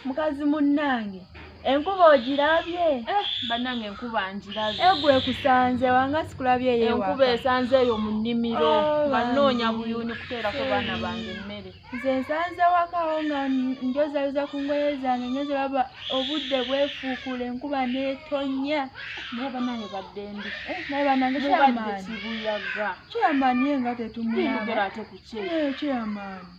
mukazi munnange enkuba ogirabye eh, bannange enkuba ngirabye egwe eh, kusanze wanga sikulabye eyo enkuba esanze eyo mu nnimiro oh, nga nnoonya buyuni kuteerako baana bange emmere nze nsanze wakawo nga njozayoza ku ngoye zange nyoze baba obudde bwefuukula enkuba neetonya naye bannange badde ndi eh, naye bannange kyamaani kibuyaga kyamaani ye nga tetumuyaba ate ku kye kyamaani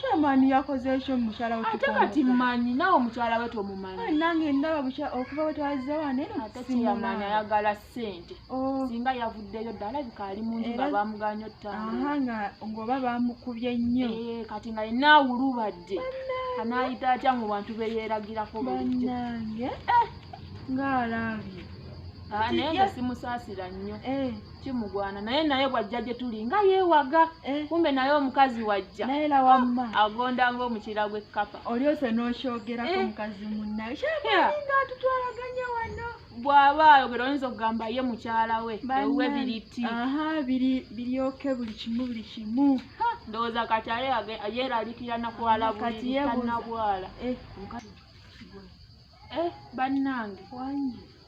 Chairman yakoze ekyo mukyala we ate kati manyi nawe mukyala we tomumanyi nange ndaba bukya okuva we twazza wane ate kyeyamanyi ayagala ssente oh. singa yavuddeyo ddala bika ali munju nga bamuganya ottanga nga ng'oba bamukubye nnyo eh, kati nga yenna awulubadde anaayita atya mu bantu be yeeragirako bannange eh. ng'alaabye ah, naye nga simusaasira nnyo eh. kimugwana naye naye bwajja gye tuli nga yeewaga eh. kumbe naye omukazi wajja naye la wamma ah, agonda ng'omukiira gw'ekkapa oli ose n'okyogerako eh. omukazi munnaye kyalinga atutwalaganya wano bw'aba ayogera oyinza okugamba ye mukyala we ewuwe biriti biryoke buli kimu buli kimu ndowooza kati aye yeeralikira nakwala bulikanabwala eh. bannange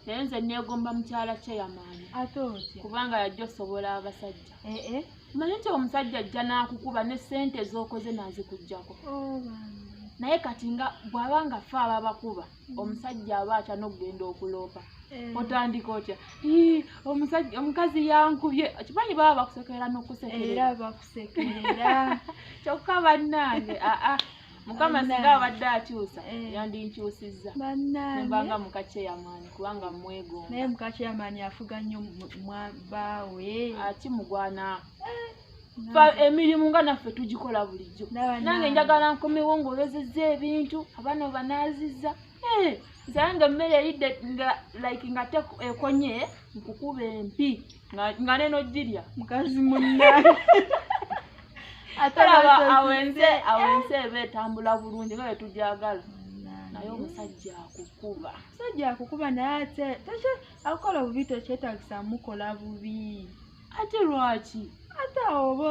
naye nze neegomba mukyala chairman ate otya kubanga yajja osobola abasajja eh, eh. manyi nti omusajja ajja n'akukuba ne ssente z'okoze n'azikugjako oh, naye kati nga bw'aba nga fe aba bakuba mm. omusajja aba atya n'okugenda okuloopa eh. otandika otya omukazi yankubye kimanyi baba bakusekerera n'okusekerera bakusekerera kyokka bannange aa mukama singa abadde akyusa eh. yandinkyusizza nembanga mukakyeyamaani kubanga mwegomba naye mukakyeyamaani afuga nnyo baawe akimugwana eh. emirimu nga naffe tugikola bulijjo nange njagala nkomewo ngaolozezza ebintu abaana banaaziza nsange emmere eyidde nga like nga te ekonye nkukuba empi nga neno girya mukazi munna atalaba awenze awenze eba etambula bulungi nga bwetugyagala naye omusajja akukuba omusajja akukuba naye ate tekye akukola bubi tekyetagisa mukola bubi ate lwaki ate awo oba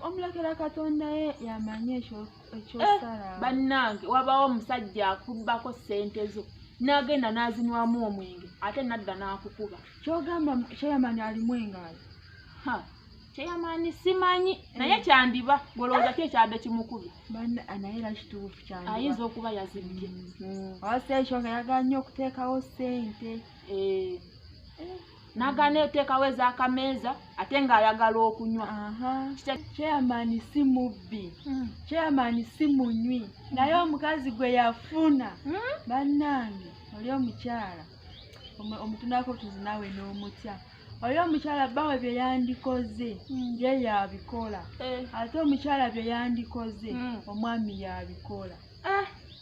omulekera katonda ye yamanyi ekyokukola Eh, bannange wabawo omusajja akubbako sente zo nagenda nazinwamu omwenge ate nadda nakukuba kyogamba kyeyamani alimu engaali kyeyamani simanyi eh. naye kyandiba golowooza ki ekyadde kimukubye ah, ayinza okuba yazibbye mm. mm. awaseekyo nga yagala nnyo okuteekawo sente eh. nagana eteekawo ezakameeza ate ng'ayagala okunywa chairman si mubbi hmm. chairman si munywi naye omukazi gwe yafuna hmm? bannange oli omukyala omutunako tuzinawe n'omutya oyo omukyala bbawe bye yandikoze hmm. ye yabikola eh. ate omukyala bye yandikoze omwami yabikola eh.